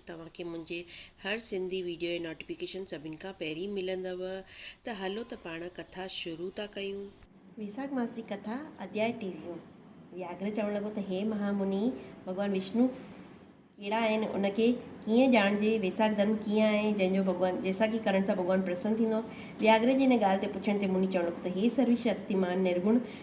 توهان کي منهنجي هر سنڌي ويڊيو جي نوٽيفڪيشن سڀني کان پهرين ملندؤ ته هلو ته پاڻ ڪٿا شروع ٿا ڪيون. ويساک ماس جي ڪٿا اڌياء ٽيويهون وياگهر چوڻ لڳو ته هي مها مني ڀڳوان وشنو ڪهڙا آهن ان کي ڪيئن ڄاڻجي ويساک ڌرم ڪيئن آهي جنهن جو ڀڳوان جيساکي ڪرڻ سان ڀڳوان پرسن ٿيندو وياگهر جي ان ڳالهه تي پڇڻ تي مني چوڻ لڳو ته هي سروشڪتيمان نرگڻ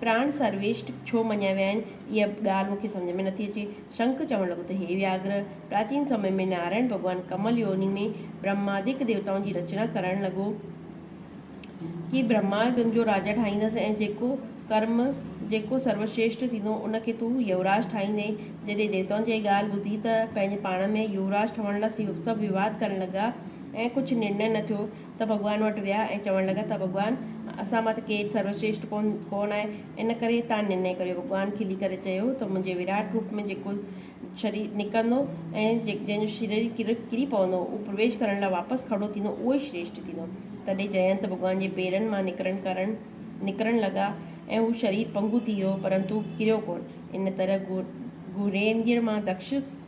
پراڻ سرويشٽ ڇو مڃيا ويا آهن، اها ڳالهه مون کي سمجهه ۾ نٿي اچي. شنک چوڻ لڳو ته هي وياگره، پراچين سمي ۾ نارائڻ ڀڳوان ڪمل يوني ۾ برهماديڪ ديوتائن جي رچنا ڪرڻ لڳو ڪي برهما تنهنجو راجا ٺاهيندس ۽ جيڪو ڪرم، جيڪو سروشريشٽ ٿيندو، ان کي تون يوراج ٺاهيندين. جڏهن ديوتائن جا هي ڳالهه ٻڌي ته پنهنجي پاڻ ۾ يوراج ٺهڻ لاء سڀ ويواد ڪرڻ لڳا ۽ ڪجهه نرنئي نه ٿيو. ته ڀڳوان وٽ ويا ۽ چوڻ لڳا ته ڀڳوان! اسان مان ته ڪير سروشريشٽ ڪونه آهي، ان ڪري تان نرنئي ڪريو. ڀڳوان کلي ڪري چيو ته منهنجي وراٽ روپ ۾ جيڪو شرير نڪرندو ۽ جنهن جو شرير ڪري پوندو، اهو پرويش ڪرڻ لاء واپس کڙو ٿيندو، اهو ئي شريشٽ ٿيندو. تڏهن جئنت ڀڳوان جي پيرن مان نڪرڻ ڪرڻ نڪرڻ لڳا ۽ هو شرير پنگهو ٿي ويو، پرنتو ڪريو ڪونه. ان طرح گهوريندڙ مان دڪش،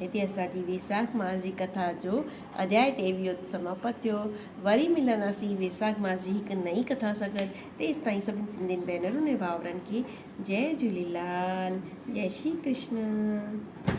هتي اسان جي ويساک ماس جي ڪٿا جو اڌياء ٽيويهو سماپت ٿيو. وري ملنداسين ويساک ماس جي هڪ نئين ڪٿا سان گڏ. تيستائين سڀني سنڌين ڀينرن ۽ ڀائرن کي جئي جهوليلال جئي شري ڪرشن.